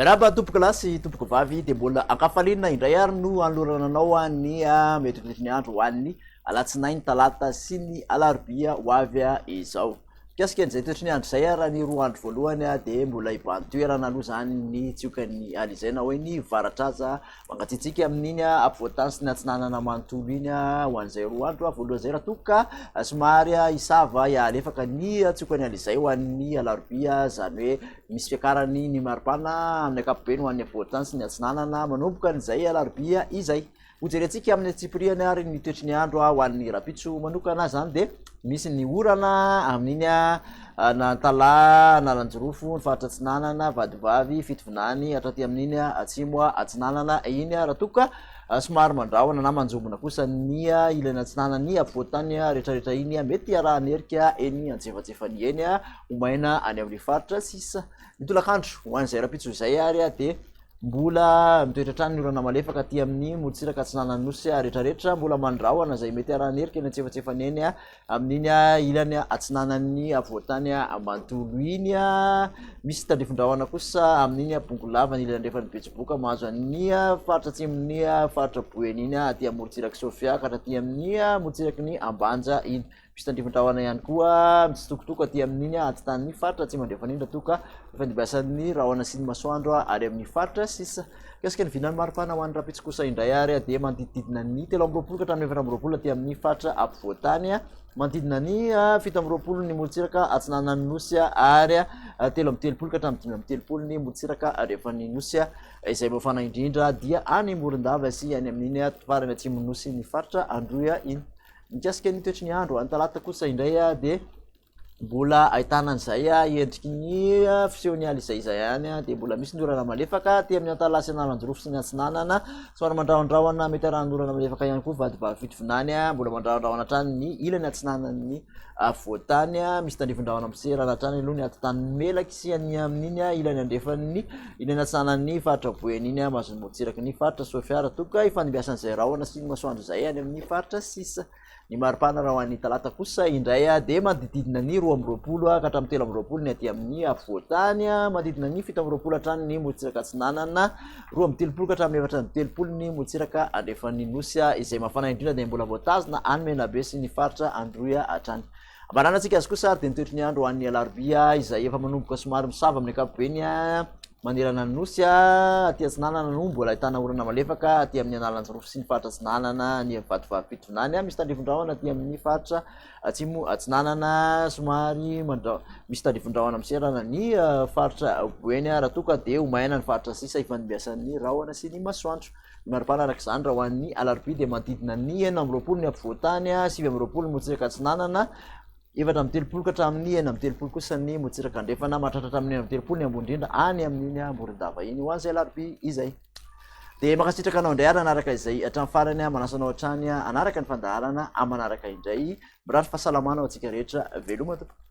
Miarahaba tompoko lahy sy tompoko vavy dia mbola ankafaliana indray ary no anolorana anao ny ah, metriritry ny andro ho an'ny alatsinainy talata sy ny alarobia ho avy ah, izao. Mikasika an'izay toetry ny andro izay raha ny roa andro voalohany dia mbola hibahan-toerana aloha izany ny tsiokan'ny ala izay na hoe ny varatraza mangatsiatsiaka amin'iny ampovoantany sy ny atsinanana manontolo iny ho an'izay roa andro voalohany izay raha toa ka somary hisava hialefaka ny tsiokan'ny ala izay ho an'ny alarobia izany hoe misy fiakarany ny maripana amin'ny ankapobeny ho an'ny ampovoantany sy ny atsinanana manomboka an'izay alarobia izay. Hojerentsika amin'ny antsipirihany ary ny toetry ny andro ho an'ny rahampitso manokana izany dia misy ny orana amin'iny Anantala, Analanjirofo, ny faritra atsinanana, Vadibavy, Fitovinany, hatraty amin'iny atsimo atsinanana iny raha toa ka somary mandrahona na manjombona kosa ny ilany atsinanan'ny afovoantany rehetrarehetra iny mety hiarahan'ny herika eny antsefatsefany eny ho maina any amin'ny faritra sisa ny tolakandro ho an'izay rahampitso izay ary dia Mbola mitoetra hatrany ny orana malefaka aty amin'ny morotsiraka atsinanan'ny nosy rehetrarehetra, mbola mandrahona izay mety arahan'erika eny antsefatsefany eny amin'iny ilany atsinanan'ny avoantany ambantolo iny. Misy tandrifindrahona kosa amin'iny bongolava ny ilany andrefan'ny betsiboka mahazo an'ny faritra atsimon'ny faritra boeny iny aty amin'ny morotsiraka sofia ka hatraty amin'ny morotsiraky ny ambanja iny. Piste Andriafindrahona ihany koa mitsitokotoko aty amin'iny atitanin'ny faritra atsimo andrefan'indra toa ka ifandimbiasan'ny rahona sy ny masoandro ary amin'ny faritra sisa mikasika ny vinan'ny maripana ho an'ny rapitso kosa indray ary dia manodidididina ny telo amby roapolo ka hatramin'ny efatra amby roapolo aty amin'ny faritra ampovoantany manodidina ny ah, fito amby roapolo ny morontsiraka atsinanan'ny nosy ary ah, telo amby telopolo ka hatramin'ny dimy amby telopolo ny morontsiraka andrefan'ny nosy ah, izay mafana indrindra dia any morondava sy any amin'iny farany atsimon'ny nosy ny faritra androy iny Mikasika ny toetry ny andro, any talata kosa indray dia mbola ahitana an'izay endriky ny fisehon'ny ala izay izay any dia mbola misy ny orana malefaka aty amin'ny antala sy analanjirofo sy ny atsinanana somary mandrahondrahona mety arahan'ny orana malefaka ihany koa vady vavifito vinany mbola mandrahondrahona hatrany ny ilany atsinanan'ny avoatany misy tandrifin-drahona miserana hatrany aloha ny atitany melaky sy any amin'iny ilany andrefan'ny Iny anatsanany ny faritra Boeny iny a, Mason'i Motsiraky ny faritra Soafiara, toka ifandimbiasan'izay rahona sy ny masoandro izay any amin'ny faritra sisa. Ny maripana raha ho an'ny talata kosa indray a, dia manodididina ny roa amby roapolo ka hatramin'ny telo amby roapolo ny aty amin'ny afovoan-tany a, manodidina ny fito amby roapolo hatrany ny Motsiraka Atsinanana, roa amby telopolo ka hatramin'ny efatra amby telopolo ny Motsiraka Andrefan'ny Nosy a, izay mafana indrindra dia mbola voatazona any Menabe sy ny faritra Androy hatrany. Ambaranantsika azy kosa ary dia ny toetry ny andro ho an'ny alarobia izay efa manomboka somary misava amin'ny ankapobeny manerana ny nosy. Aty atsinanana no mbola ahitana orana malefaka aty amin'ny analanjirofo sy ny faritra atsinanana ny vatovarom-pitondrany. Misy tandrifondrahona aty amin'ny faritra atsimo atsinanana somary mandra misy tandrifondrahona miserana ny faritra boeny raha toa ka dia ho maina ny faritra sisa ifanimbiasan'ny rahona sy ny masoandro. Maripana araka izany raha ho an'ny alarobia dia manodidina ny enina amby roapolo ny ampovoan-tany, sivy amby roapolo ny motsiraka atsinanana, efatra amby telopolo ka hatramin'ny enina amby telopolo kosa ny motsiraka andrefana, mahatratra hatramin'ny enina amby telopolo ny ambony indrindra any amin'iny Morondava iny. Ho an'izay alarobia izay. Dia mankasitraka anao indray ary hanaraka izay hatramin'ny farany aho, manasa anao hatrany hanaraka ny fandaharana amanaraka indray. Mirary fahasalamana ho antsika rehetra. Veloma tompoko.